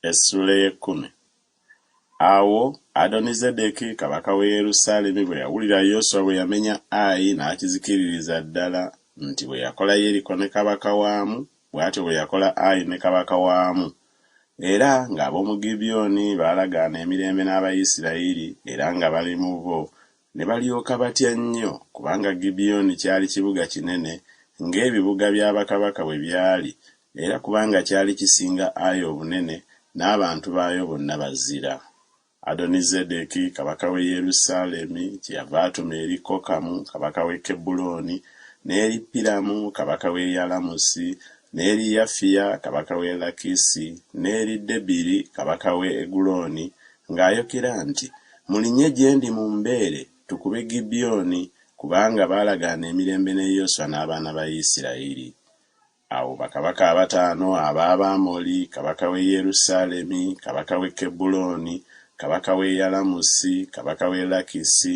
Essuula ey'ekkumi. Awo Adonizedeki kabaka w'e Yerusaalemi bwe yawulira Yoswa bwe yamenya Ayi n'akizikiririza ddala, nti bwe yakola Yeriko ne kabaka waamu, bw'atyo bwe yakola Ayi ne kabaka waamu, era ng'ab'omu Gibyoni baalagaana emirembe n'Abayisirayiri, era nga bali mu bo, Ne balyoka batya nnyo, kubanga Gibiyoni kyali kibuga kinene ng'ebibuga bya bakabaka bwe byali, era kubanga kyali kisinga Ayi obunene, n'abantu baayo bonna bazira. Adonizedeki kabaka w'e Yerusaalemi kyeyava atuma eri Kokamu kabaka w'e Kebbulooni, n'eri Piramu kabaka w'e Yalamusi, n'eri Yafiya kabaka w'e Lakisi, n'eri Debiri kabaka w'e Egulooni, Ng'ayokera nti, Mulinye gye ndi mu mbeere, tukube Gibyoni, kubanga baalagaana emirembe ne Yoswa n'abaana ba Isirayiri. Awo bakabaka abataano ab'Abaamoli, kabaka w'e Yerusaalemi, kabaka w'e Kebbulooni, kabaka w'e Yalamusi, kabaka w'e Lakisi,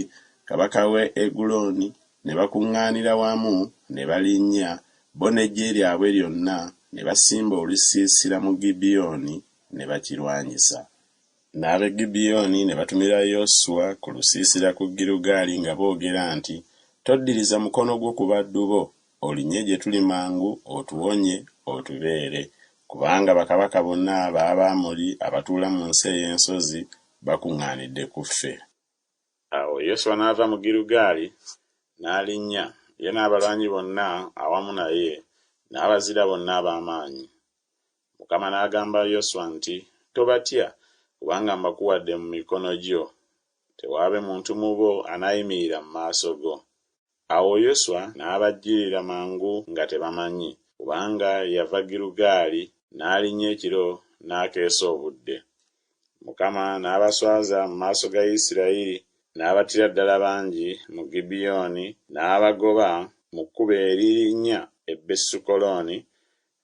kabaka w'e Egulooni, ne bakuŋŋaanira wamu, ne balinnya, bo n'eggye lyabwe lyonna, ne basimba olusiisira mu Gibyoni, ne bakirwanyisa. N'ab'e Gibiyoni ne batumira Yoswa ku lusiisira ku Girugaali nga boogera nti, Toddiriza mukono gwo ku baddu bo, olinnye gye tuli mangu otuwonye otubeere, kubanga bakabaka bonna ab'Abamoli abatuula mu nsi ey'ensozi bakuŋŋaanidde ku ffe. Awo Yoswa n'ava mu Girugaali n'alinnya, ye n'abalwanyi bonna awamu naye, n'Abazira bonna ab'amaanyi. Mukama n'agamba Yoswa nti, Tobatya, kubanga mbakuwadde mu mikono gyo. Tewaabe muntu mu bo anaayimirira mu maaso go. Awo Yoswa n'abajjirira mangu nga tebamanyi, kubanga yava Girugaali n'alinnya ekiro n'akeesa obudde. Mukama n'abaswaza mu maaso ga Isirayiri, n'abattira ddala bangi mu Gibiyoni, n'abagoba mu kkubo eririnnya e Besukolooni,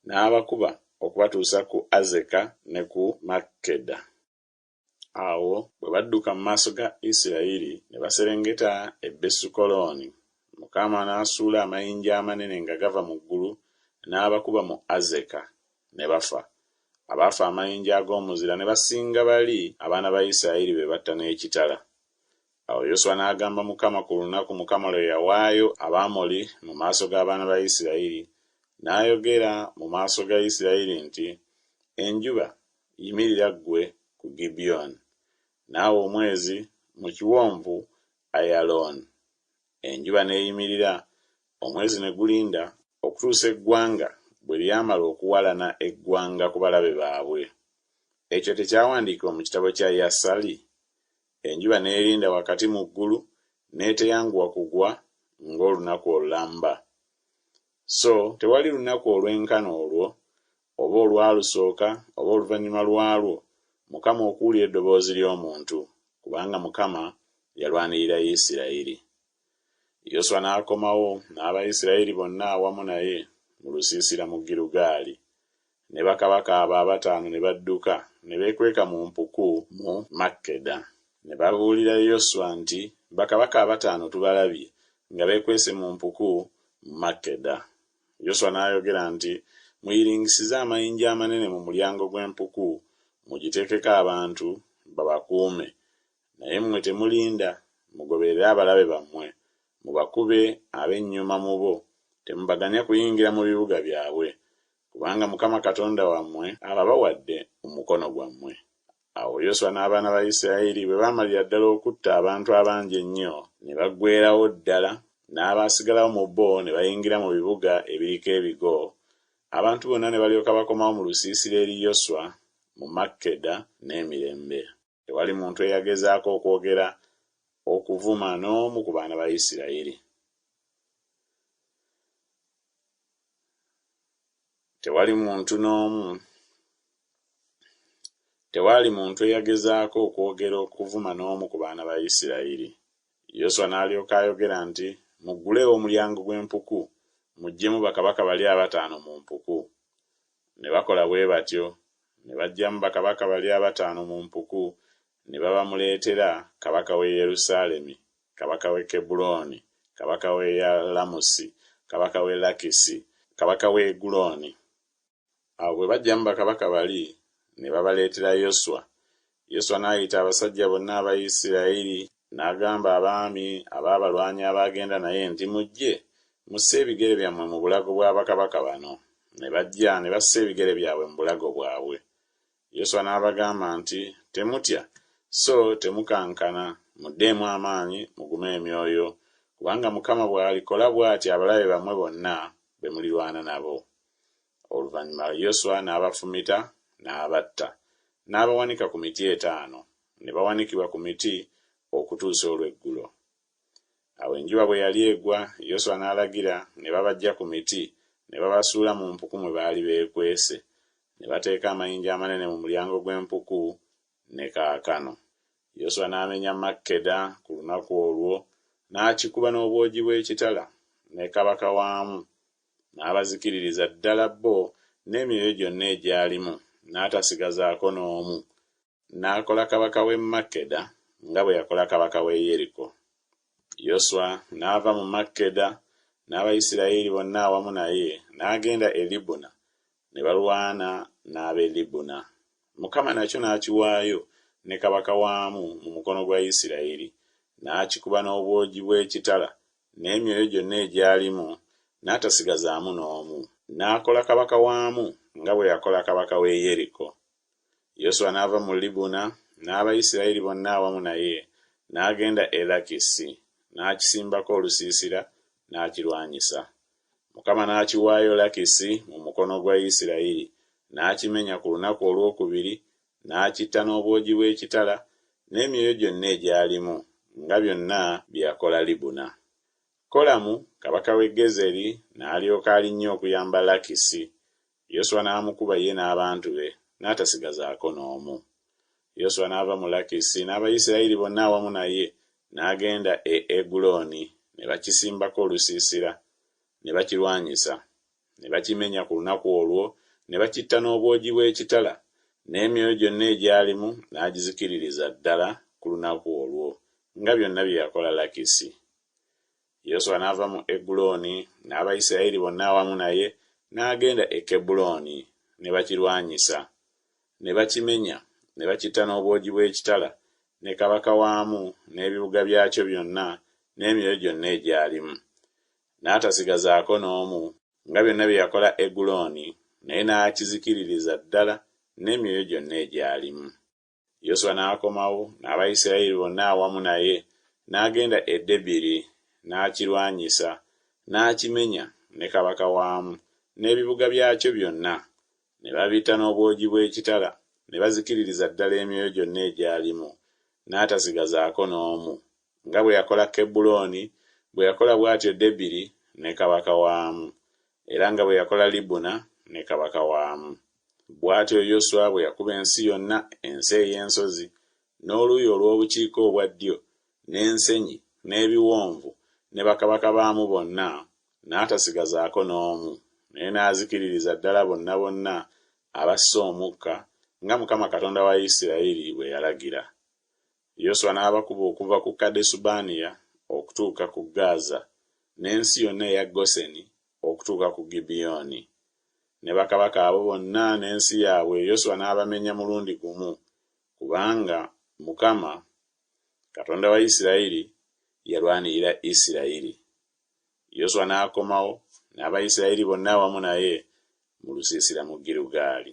N'abakuba okubatuusa ku Azeka ne ku Makkeda. Awo bwe badduka mu maaso ga Isirayiri, ne baserengeta e Besukolooni, Mukama n'asuula amayinja amanene nga gava mu ggulu, n'abakuba mu Azeka, ne bafa. Abaafa amayinja ag'omuzira ne basinga bali abaana ba Isirayiri be batta n'ekitala. Awo Yoswa n'agamba Mukama ku lunaku Mukama lwe yawaayo Abaamoli mu maaso g'abaana ba Isirayiri, n'ayogera mu maaso ga Isirayiri nti, Enjuba, yimirira ggwe ku Gibyoni, naawe omwezi mu kiwonvu Ayalooni. Enjuba n'eyimirira, omwezi ne gulinda, okutuusa eggwanga bwe lyamala okuwalana eggwanga ku balabe baabwe. Ekyo tekyawandiikibwa mu kitabo kya Yasali? Enjuba n'erinda wakati mu ggulu n'eteyanguwa kugwa ng'olunaku olulamba. So tewali lunaku olwenkana olwo, oba olwalusooka, oba oluvannyuma lwalwo, Mukama okuwulira eddoboozi ly'omuntu, kubanga Mukama yalwanirira Yisirayiri. Yoswa n'akomawo n'Abayisirayiri bonna awamu naye mu lusiisira mu Girugaali, Ne bakabaka abo abataano ne badduka, ne beekweka mu mpuku mu Makkeda. Ne babuulira Yoswa nti, Bakabaka abataano tubalabye nga beekwese mu mpuku mu Makkeda. Yoswa n'ayogera nti, Muyiringisize amayinja amanene mu mulyango gw'empuku, mugiteekeko abantu, babakuume. Naye mmwe temulinda, mugoberere abalabe bammwe, mubakube, ab'ennyuma mu bo temubaganya kuyingira mu bibuga byabwe. kubanga Mukama Katonda wammwe ababawadde mu mukono gwammwe. Awo Yoswa n'abaana ba Isirayiri bwe baamalira ddala okutta abantu abangi ennyo, ne baggweerawo ddala, n'abaasigalawo mu bo ne bayingira mu bibuga ebiriko ebigo, abantu bonna ne balyoka bakomawo mu lusiisira eri Yoswa mu Makkeda n'emirembe. Tewali muntu eyagezaako okwogera okuvuma n'omu ku baana ba Isirayiri. Tewali muntu n'omu Tewaali muntu eyagezaako okwogera okuvuma n'omu ku baana ba Isirayiri. Yoswa n'alyoka ayogera nti, Mugguleewo omulyango gw'empuku, muggyemu bakabaka bali abataano mu mpuku. Ne bakola bwe batyo, ne baggyamu bakabaka bali abataano mu mpuku, ne babamuleetera, kabaka w'e Yerusaalemi, kabaka w'e Kebbulooni, kabaka w'e Yalamusi, kabaka w'e Lakisi, kabaka w'e Egulooni. Awo bwe baggyamu bakabaka bali, ne babaleetera Yoswa, Yoswa n'ayita abasajja bonna aba Isirayiri, n'agamba abaami ab'abalwanyi abaagenda naye nti, Mujje, musse ebigere byammwe mu bulago bwa bakabaka bano. Ne bajja, ne bassa ebigere byabwe mu bulago bwabwe. Yoswa n'abagamba nti, Temutya, so temukankana, muddeemu amaanyi, mugume emyoyo, kubanga Mukama bw'alikola bw'ati abalabe bammwe bonna be mulirwana nabo. Oluvannyuma Yoswa n'abafumita, n'abatta, n'abawanika ku miti etaano, ne bawanikibwa ku miti okutuusa olweggulo. Awo enjuba bwe yali egwa, Yoswa n'alagira, ne babaggya ku miti, ne babasuula mu mpuku mwe baali beekwese, ne bateeka amayinja amanene mu mulyango gw'empuku, ne kaakano. Yoswa n'amenya Makkeda ku lunaku olwo, n'akikuba n'obwogi bw'ekitala, ne kabaka waamu, n'abazikiririza ddala bo n'emyoyo gyonna egyalimu, n'atasigazaako n'omu, n'akola kabaka w'e Makkeda nga bwe yakola kabaka w'e Yeriko. Yoswa n'ava mu Makkeda n'Abayisirayeli bonna awamu naye, n'agenda e Libuna, ne balwana n'ab'e Libuna. Mukama nakyo n'akiwaayo ne kabaka waamu mu mukono gwa Yisirayeli, n'akikuba n'obwogi bw'ekitala n'emyoyo gyonna egyalimu, n'atasigazaamu n'omu. N'akola kabaka waamu nga bwe yakola kabaka w'e Yeriko. Yoswa n'ava mu Libuna n'Abayisirayiri bonna awamu naye, n'agenda e Lakisi, n'akisimbako olusiisira, n'akirwanyisa. Mukama n'akiwaayo Lakisi mu mukono gwa Isirayiri, n'akimenya ku lunaku olwokubiri, n'akitta n'obwogi bw'ekitala n'emyoyo gyonna egyalimu, nga byonna bye yakola Libuna. Kolamu kabaka w'e Gezeri n'alyoka alinnya okuyamba Lakisi, Yoswa n'amukuba ye n'abantu be, n'atasigazaako n'omu. Yoswa n'ava mu Lakisi n'Abayisirayiri bonna awamu naye, n'agenda e Eguloni, ne bakisimbako olusiisira, ne bakirwanyisa. ne bakimenya ku lunaku olwo, ne bakitta n'obwogi bw'ekitala, n'emyoyo gyonna egyalimu n'agizikiririza ddala ku lunaku olwo, nga byonna bye yakola Lakisi. Yoswa n'ava mu Eguloni n'Abayisirayiri bonna awamu naye, n'agenda e Kebbulooni, ne bakirwanyisa, ne bakimenya, ne bakitta n'obwogi bw'ekitala, ne kabaka waamu, n'ebibuga byakyo byonna, n'emyoyo gyonna egyalimu. n'atasigazaako n'omu, nga byonna bye yakola Egulooni, naye n'akizikiririza ddala n'emyoyo gyonna egyalimu. Yoswa n'akomawo n'Abayisirayiri bonna awamu naye, n'agenda e Debiri, n'akirwanyisa, n'akimenya, ne kabaka waamu, n'ebibuga byakyo byonna, ne babitta n'obwogi bw'ekitala, ne bazikiririza ddala emyoyo gyonna egyalimu, n'atasigazaako n'omu, nga bwe yakola Kebbulooni, bwe yakola bw'atyo Debiri ne kabaka waamu, era nga bwe yakola Libuna ne kabaka waamu. Bw'atyo Yoswa bwe yakuba ensi yonna, ensi ey'ensozi, n'oluuyi olw'obukiika obwa ddyo, n'ensenyi, n'ebiwonvu, ne bakabaka baamu bonna, n'atasigazaako n'omu, naye n'azikiririza ddala bonna bonna abasse omukka, nga Mukama Katonda wa Isirayiri bwe yalagira. Yoswa n'abakuba okuva ku Kadesubanea okutuuka ku Gaaza, n'ensi yonna eya Goseni okutuuka ku Gibyoni. Ne bakabaka abo bonna n'ensi yaabwe Yoswa n'abamenya mulundi gumu, kubanga Mukama, Katonda wa Isirayiri yalwanirira Isirayiri. Yoswa n'akomawo, n'Abayisirayiri bonna awamu naye, mu lusiisira mu Girugaali.